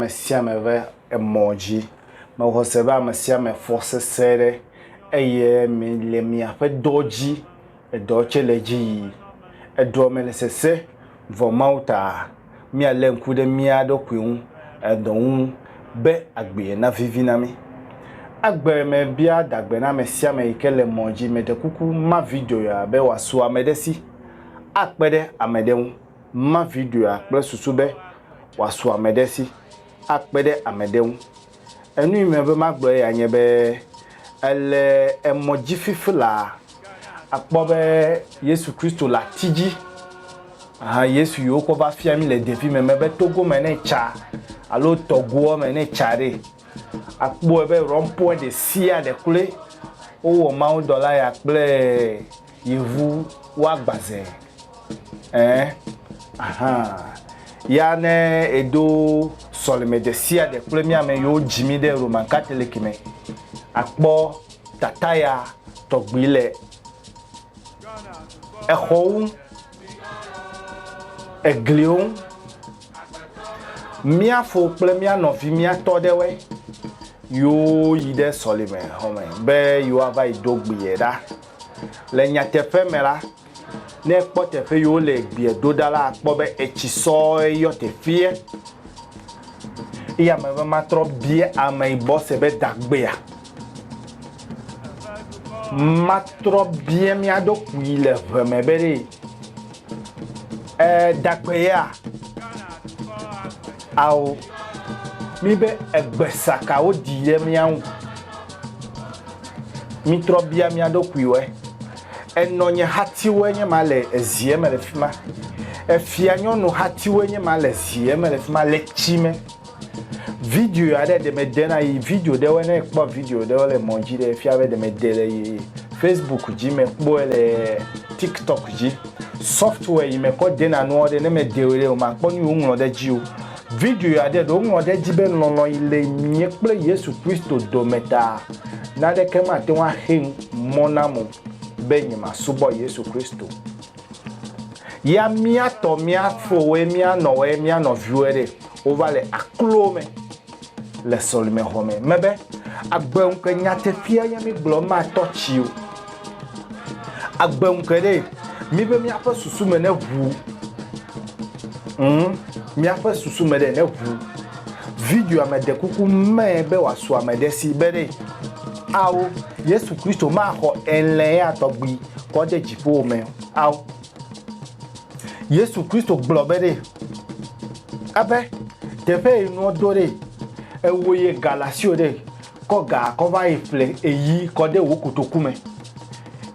ame sia ame ƒe emɔ dzi. Mexɔ se be ame sia ame fɔ sese ɖe eye mi le miaƒe dɔ dzi edɔ tse le edzi yi. Edɔ me le sese vɔ Mawu ta mialé ŋku ɖe mía ɖokui ŋu edɔ ŋu be agbee navivi na mí. Agbe me bia dagbe na ame sia ame yi ke le mɔ dzi. Meɖe kuku ma video ya be wòasu ame ɖe si akpe ɖe ame ɖe ŋu. Ma videoa kple susu be wòasu ame ɖe si akpe ɖe ame ɖe ŋu. Enu yi mebe magblɔ eya nye be, èle emɔ dzi fifilaa, àkpɔ be Yesu Kristo le ati dzi. Hã Yesu yi wokɔ va fia mí le ɖevime me be togo me ne ètsa alo tɔgoa me ne ètsa ɖe, àkpɔe be rɔmpɔe ɖe sia ɖe kloe wowɔ mawudɔla ya kple. Yevu woagba ze ɛɛ ahan. Ya ne edo sɔleme ɖesiaɖe kple mía ame yiwo dzi mí ɖe Roman Katoliki me, akpɔ tataya tɔgbi le exɔwo ŋu, egliwo ŋu. Mía fo kple mía nɔvi mía tɔ ɖewoe yiwo yi ɖe sɔleme xɔme be yewoava yi do gbi ye ɖa. Le nyateƒe me la, ne ekpɔ teƒe yi wole gbea ɖo ɖa la, akpɔ be etsi sɔe yɔ teƒeɛ. Eya me be matrɔ bia ameyibɔ se be dagbea. Matrɔ bia mía ɖokui le ʋe me be ɖe ee, dagbea? Ao, mí be egbe sa ka wodi ye mía ŋu? Mítrɔ bia mía ɖokuiwoe. Enɔ nye hatiwoe nye ma le zie me le fi ma. Efia nyɔnu hatiwoe nye ma le zie me le fi ma le tsi me. Video aɖe ɖe mede na yi video ɖewoe ne ekpɔ video ɖewo le mɔ dzi ɖe efia be ɖe mede le yi Facebook dzi me kpɔe le TikTok dzi. Software yi me kɔ dena nuwo ɖe, ne me dewo ɖe o ma kpɔ nu yi wo ŋlɔ ɖe dzi o. Video ya ɖe, ɖe wo ŋlɔ ɖe edzi be lɔlɔ yi le mìe kple Yesu Kristo dome ta, naɖeke ma te ŋu axe mɔ nam o be nye ma subɔ Yesu Kristo. Ya mìa tɔ mìa fowoe, mìa nɔwoe, mìa nɔviwoe ɖe, wo va le aklowo me. Le sɔlimexɔ me mebe agbe ŋukpe nyateƒea nye mi gblɔ ma tɔ tsi o. Agbe ŋukpe ɖe mi be miaƒe susu me ne ʋu. Mm, miaƒe susu me ɖe ne ʋu. Videoa me de kuku me be wòasu ame ɖe si be ɖe. Ao, Yesu Kristo maxɔ elɛa tɔgbi kɔ de dziƒo me. Ao. Yesu Kristo gblɔ be ɖe ebe teƒe yi nua do ɖe ewo ye galasio ɖe kɔ ga kɔ va yi ƒle eyi kɔ ɖe wo kotoku me.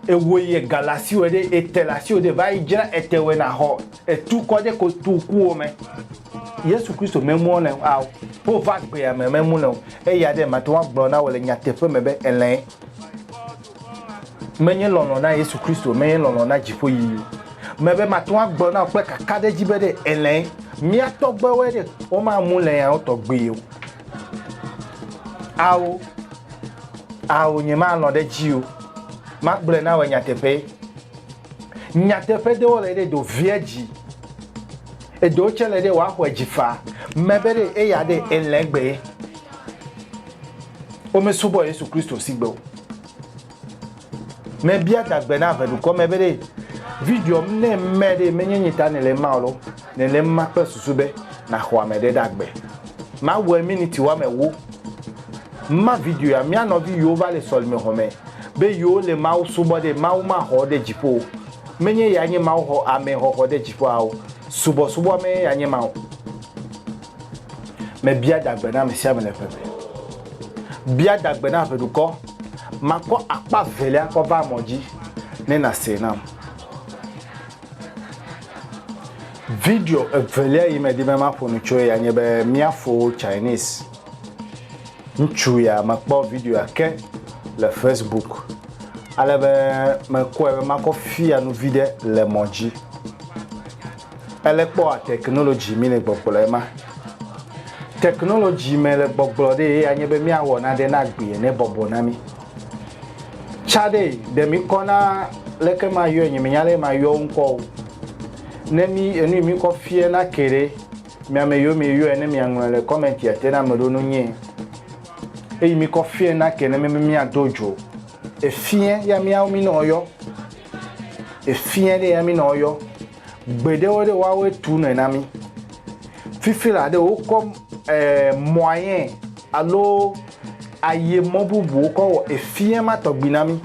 Ewo ye galasio ɖe etelasio ɖe va yi dzra etewe na xɔ etu kɔ ɖe kotokuwo me. Yesu Kristo memu le ao, wo va gbea me memu le o. Eya ɖe mate ŋu agblɔ na wò le nyateƒe me be elɛ. Menye lɔlɔ̃ na Yesu Kristo, menye lɔlɔ̃ na dziƒoyiyi o. Mebe mate ŋu agblɔ na wò kple kakaɖedzi be ɖe èlẽe. Mía tɔgbuiwoe ɖe, womamu lẽ ya wo tɔgbuie o. Ao, ao, nyemalɔ̃ ɖe edzi o. Magblɔe na wòe nyateƒee. Nyateƒe ɖewo le ɖe do via dzi. Eɖewo tsɛ le ɖe wòaxɔe dzi faa. Mebe ɖe eya ɖe èlẽ gbee. womesubɔ Yesu Kristo sigbe o. Mebia dagbe na ave dukɔ me be ɖe video m ne mɛ ɖe menye nye ta nele ma lo, nele ma kple susu be naxɔ ame ɖe dagbe. Mawɔe miniti woame ewo. Ma video ya mia nɔvi yiwo va le sɔlime xɔ me be yewo le Mawu subɔ ɖe Mawu ma xɔ ɖe dziƒo o. Menye ya nye Mawu xɔ ame xɔxɔ ɖe dziƒo ao. Subɔsubɔ me ya nye ma o. Mebia adagbe na ame sia ame le ʋe me. Bia adagbe na ʋeɖukɔ. Makɔ akpa velia kɔ va mɔ dzi ne nàsee nam. Video evelia yi medi be maƒo nu tsoe ya nye be Míafo Chinese. Ŋutsu ya mekpɔ videoa ke le Facebook ale be mekɔe be makɔ fia nu viɖe le mɔ dzi. Ele kpɔa technology mi le gbɔgblɔ ema. Technology me le gbɔgblɔ ɖe ye anye be miawɔ naɖe na gbi ene bɔbɔ na mi. Tsa ɖe ɖe mi kɔ na leke ma yɔe nye mi nya le ma yɔ ŋkɔ o. Ne mi enu mi kɔ fie na ke ɖe mia me yɔ mi yɔe ne mia ŋlɔ le comment ya te na me ɖo nu nye. Eyi mi kɔ fie na ke ne mi mi ado jo. Efiɛ ya miawo mi nɔ yɔ. Efiɛ ɖe ya mi nɔ yɔ. Gbe ɖewo ɖe woawo tu nɔe na mi. Fifi la ɖe wokɔ eh, mɔayɛ alo aye mɔ bubu wokɔ wɔ efiɛ ma tɔgbi na mi.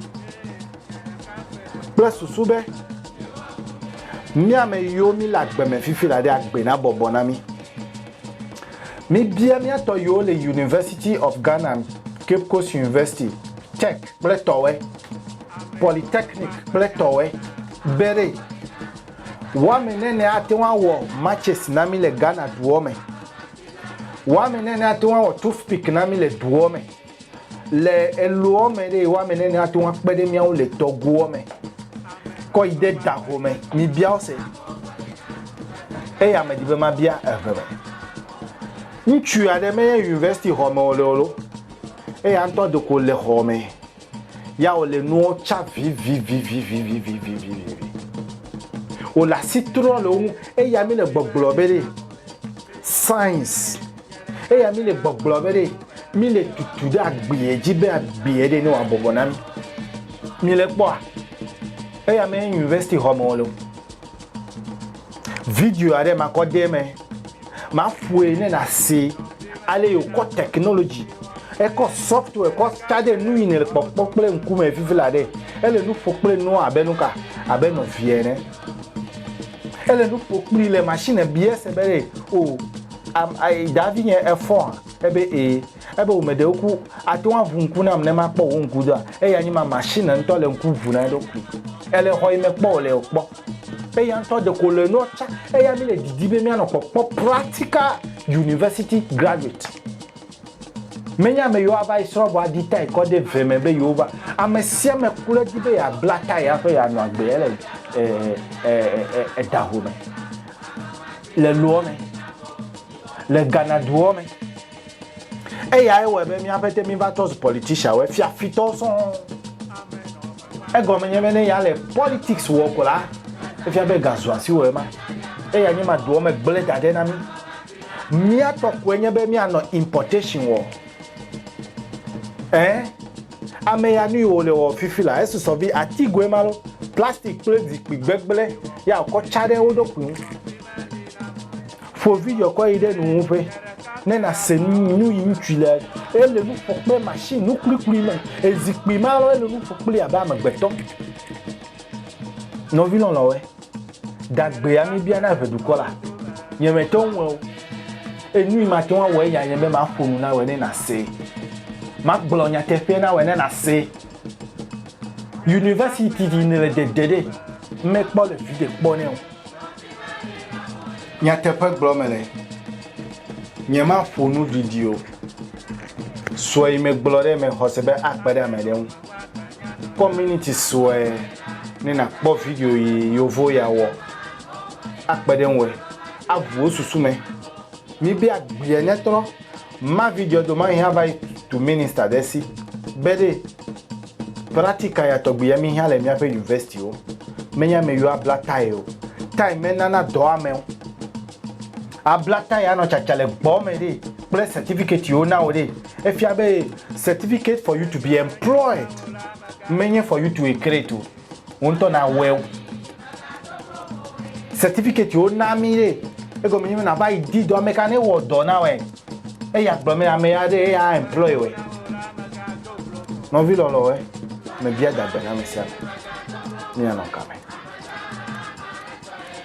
Kple susu be mia me yiwo mi le agbe me fifi la ɖe agbe na bɔbɔ na mi. Míbia mía tɔ yiwo le University of Ghana, Cape Coast University, Tech kple Tɔwɛ, Polytechnic kple Tɔwɛ, be ɖe woame nene ate ŋu awɔ matches na mí le Ghana duɔ me. Woame nene ate ŋu awɔ toothpick na mí le duɔ me. Le eloɔ me ɖee, woame nɛnɛ ate ŋu akpe ɖe mía ŋu le tɔgoɔ me kɔ yi ɖe daho me. Mibia wo se. Eya medi be mabia eve me. Ŋutsu aɖe menye university xɔ me wòle o ɖo. Eya ŋutɔ ɖeko le xɔ me. Ya wòle nuwo tsa vivivivivivivivivivi. Wòle asi trɔ le wo ŋu. Eya mi le gbɔgblɔ be ɖe science. Eya míle gbɔgblɔ be ɖe míle tutu ɖe agbeɛ dzi be agbeɛ ɖe ne wòabɔbɔ na mí. Míle kpɔa? Eya me university xɔ me wòle o. Video aɖe makɔ de eme. Maƒoe ne nàse ale yi wòkɔ technology ekɔ software kɔ ta ɖe nu yi nèle kpɔkpɔ kple ŋkume vivi la ɖe. Ele nu ƒo kple nu abe nuka? Abe nɔvia ene. Ele nu ƒo kpli le machine biase be ɖe o Am, ai, daa vinye, efɔ hã? Ebe, Ee. Ebe, Wò me ɖewo ku. Àte ŋu aʋu ŋku nam ne makpɔ wò ŋku doa? Eya nye ma, machine ŋutɔ le ŋku ʋu na eɖokui. Èle xɔ yi me kpɔ wòle o, kpɔ. Eya ŋutɔ ɖeko le nua tsã. Eya mi le didi be míanɔ kpɔkpɔ practical university graduate. Menye ame yiwo ava yi srɔ̃ vɔ aɖi tayi kɔ ɖe ve me be yewova. Ame sia ame kloe di be yeabla tayi hafi yeanɔ agbe le, e, e, e, e, e, edaho me. le loɔ me, le Ghana duɔ me. Eya ye wɔe be mía ƒete mí va trɔ zu politician wɔ, fiafitɔwo sɔŋ. Egɔme nye be ne ya le politics wɔ ko la, efia be ga zu asi wò ema. Eya nye ma duɔ me gblẽ da ɖɛ na mí. Mía tɔ koe nye be mía nɔ importation wɔ. Ẽ, ame ya nui wòle wɔ fifi la, esusɔ vi atigoe ma lo, plastik kple zikpui gbegblẽ ya wòkɔ tsa ɖe wo ɖokui ŋu. Ƒo video kɔ yi ɖe nuwuƒe ne nàse nu yi ŋutui le. Ele nu ƒo kple mashini nukplikpli me. Ezikpui ma lo, ele nu ƒo kplii abe amegbetɔ. Nɔvi lɔlɔ̃we, Gagbea mi bia na ve dukɔ la. Nye me te ŋu wɛo. Enui ma te ŋu awɔe ya nye be ma ƒo nu na wɛ ne na see. Ma gblɔ nyateƒea na wɛ ne na see. University ɖi ne le dede ɖe me kpɔ le viɖe kpɔ nɛ o. Nyateƒe gblɔ me le. Nye ma ƒo nu ɖiɖi o. Sɔe me gblɔ ɖe me xɔse be a kpe ɖe ame ɖe ŋu. Kpɔ miniti sue ne nàkpɔ video yi yovo ya wɔ akpe ɖe ŋue aʋu wò susu me. Mibe agbea nyatrɔ ma videoa domahi hã va yi tu minista ɖe si be ɖe pratika ya tɔgbi ya mihiã le míaƒe yuvɛsitiwo menye ame yiwo abla tae o. Tae menana dɔ amewo. Abla tae anɔ tsatsa le gbɔwɔ me ɖe kple sɛtifikɛtiwo na wò ɖe. Efia be certificate for you to be employed menye for you to create o. Wo ŋutɔ nawɔe. Certificate wo na mi ɖe. Egɔme nye be nava yi di dɔ ame ka ne wɔ dɔ na wɔe. Eya gblɔ me ame ya ɖe eya employ wɔe. Nɔvi lɔlɔe, mebia dagbe na ame sia ame. Míanɔ kame.